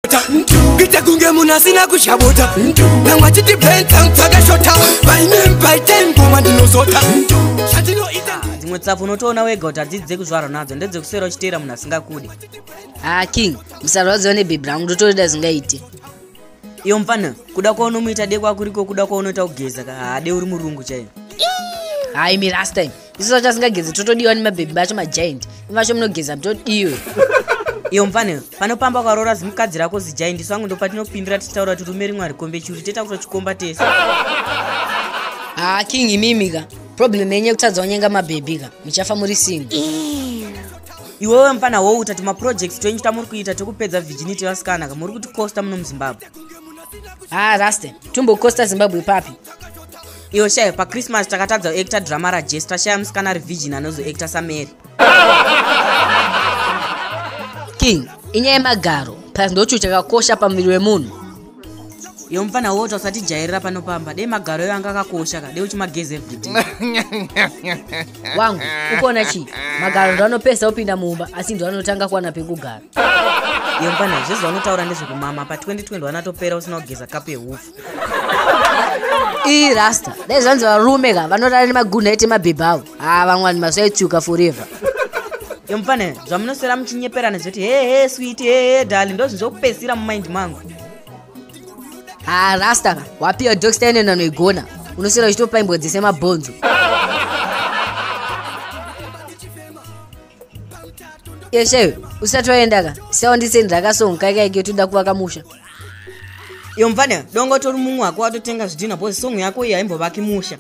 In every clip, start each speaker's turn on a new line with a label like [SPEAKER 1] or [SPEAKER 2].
[SPEAKER 1] kuita kuita kunge munhu asina kuzhabota vamwe vachiti bentangu dzakashota painem paiten ngoma ndinozota zvatinoita dzimwe tsapo unotoona wega kuti hadzidzi dzekuzvarwa nadzo ndedzekusera uchiteera munhu asingakude ha ah, king musarwadziwa nebhebhi rangu ndotorida zingaite iyo mfana kuda kwaunomuita dekwa kuriko kuda kwaunoita kugeza ka hade uri murungu chaiyo haimi last time isu vacho asingagezi totodiwa nemabhebhi vacho majaindi ivacho munogeza mutodiwe iyo mfane panopamba kwaroora zimukadzi rako zijaindi isu vangu ndopatinopindira tichitaura kuti rume rimwe harikombe chiuri teta kuto chikomba tese haa ah, king imimi ka problem yenye kutadza wanyenga mabhebhi ka muchafa muri singo iwewe mfana wouta timaprojects twenyu tamuri kuita tekupedza virginity vasikana ka muri kuti costa muno muzimbabwe haa ah, raste tumbokosta zimbabwe papi iyo shaye pachristmas takatadza kuacta drama rajesu tashaya musikana ari virgin anozoacta samary king inyaya yemagaro plus ndochuu chakakosha pamuviri wemunhu iyo mupfana wota usatijairira pano pamba dei magaro iyo anga akakosha ka dei uchimageze everyday wangu ukuona chii magaro ndo anopesa opinda mumba asi ndo anotanga kuwana pekugara iyo mupfana zvezvavanotaura ndezvekumama pa 2020 wanatopera usina kugeza kapu yehufu ii rasta dai zvanzi varume ka vanorara nemagunha ete mabhebha avo haa vamwani masaitsuka forever yomufane zvamunoswera muchinyeperana zvoti hehe switi hehe dali ndozvi zvokupedzisira mumind mangu haa rasta ka wapiwa doxta ine nanoigona unoswera uchitopaimbwa dzese mabhonzo yeshe usati waenda ka siaundiseni rakasonga kaika ike toda kuvaka musha iyo mfana dongo tori mumwe wako watotenga zvidhina bhozi songo yako iyi haimbovaki musha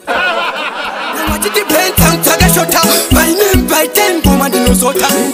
[SPEAKER 1] Mama, did you paint some target shot? My name by ten, woman, you know, so time.